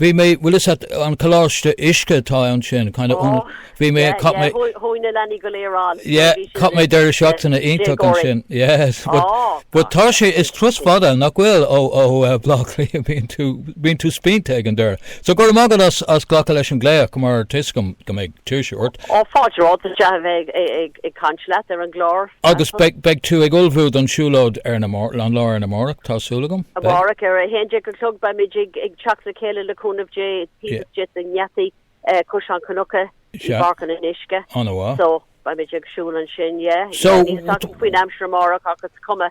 Bhí mé, bhfuil is an Coláiste Uisce atá ann sin, kind of ionad, bhí mé, chaith mé, Chuaigh na leanaí go léir ann. yeah, chaith mé deireadh seachtaine iontach ansin, yes, but, but tá sé, is turas fada, nach bhfuil, ó, ó Bhleá Cliath, bíonn tú, bíonn tú spíonta ag an deireadh. So go raibh maith agat as, as glacadh leis an glaoch, mar tuigim go mbeidh. tú tuirseach. Ó, fáilte romhat. Is deas a bheith ag caint leat ar an gclár. Agus beidh tú ag ullmhú don siúlóid ar an lá arna mhárach, tá súil agam? Amárach ar a haon déag a chlog beimid ag teacht le chéile le cúnamh Dé, taobh de na geataí, Caisleán Cnucha, i bPáirc an Fhionnuisce. An bhfuil? So, beimid ag siúl ansin, yeah. So. Níl fhios agam faoin aimsir amárach ach is cuma.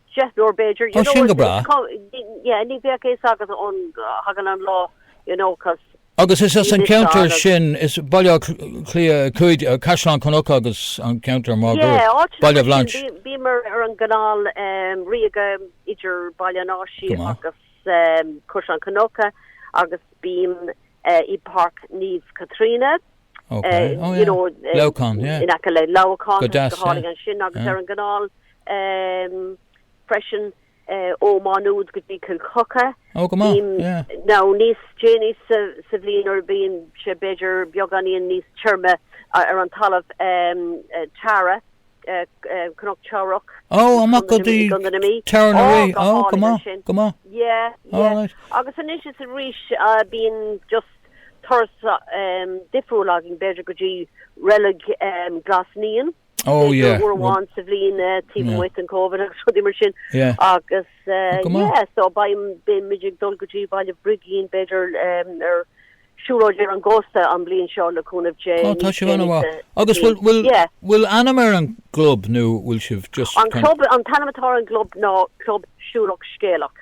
Seo nó b'fhéidir, you know, is cuma, yeah, ní bheadh a fhios agat go dtagann an lá, you know, cos. Agus is as an cheantar sin, is Baile Átha Cliath 5, Caisleán Cnucha agus an ceantar máguaird, Baile Bhlainse. Yeah, bímid ar an gCanáil Ríoga idir Baile an Áisí agus Caisleán Cnucha agus bímid i bPáirc Naomh Caitríona. Ok, oh yeah, Leamhcán, yeah. In aice le Leamhcán, go deas, yeah. Go hálainn ansin agus ar an gCanáil freisin ó Má Nuad go dtí Cill Choca. Oh, go maith, yeah. Nó níos déanaí sa bhliain nuair a bhíonn sé b'fhéidir beagáinín níos tirime ar an talamh Tara, Cnoc Teamhrach. Oh, amach go dtí Teamhair na Rí, oh, go maith, go maith. Yeah, yeah. Agus anois is arís bíonn just turas difriúil againn b'fhéidir go dtí Reilig Ghlas Naíon, b'fhéidir uair amháin sa bhliain taobh amuigh den Covid agus rudaí mar sin agus yeah so beimid ag dul go dtí Baile Brigín b'fhéidir ar shiúlóid ar an gcósta an bhliain seo le cúnamh Dé. Á tá sibh ana mhaith. Agus bhfuil bhfuil bhfuil ainm ar an gclub nó bhfuil sibh just kind of. An club an t-ainm atá ar an gclub ná Club Siúlach Scéalach.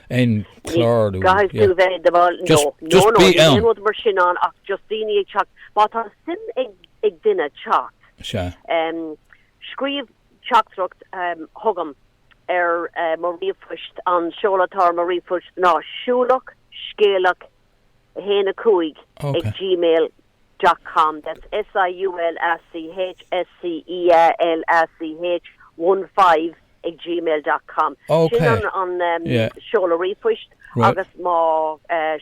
An clár nó. Caithfidh tú a bheith i do bhall. No, no, no, níl aon rud mar sin ann ach just daoine ag teacht. Má tá suim ag duine teacht. Sea. Scríobh teachtaireacht chugam ar mo ríomhphost, an seoladh atá ar mo ríomhphost ná siúlachscéalach1 5 ag gmail. dot com, that's SIULACHSCEALACH15 at gmail dot com. Sin an seoladh ríomhphoist agus má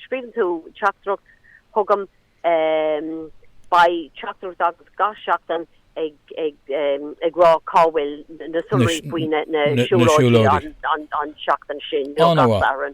scríobhann tú teachtaireacht chugam, beidh teachtaireacht agat gach seachtain ag rá cá bhfuil na sonraí faoi na siúlóidí an tseachtain sin nó gach Satharn.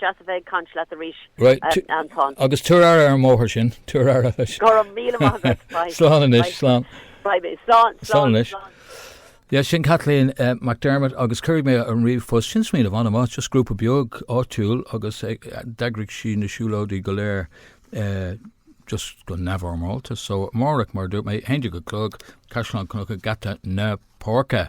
Deas a bheith ag caint leat arís, Anton. Right, agus tabhair aire ar an mbóthar sin, tabhair aire leis. Go raibh míle maith agat, bye. Slán anois, slán. Bye mé, slán, slán anois. Yes, sin Kathleen uh, McDermott agus cuirfidh mé an ríomhphost sin smaoineamh an-mhaith just grúpa beag áitiúil agus ag eh, d'eagraigh sí na siúlóidí go léir uh, just go neamhfhoirmeálta so amárach mar a dúirt mé 11 a chlog Caisleán Cnucha Geata na Páirce.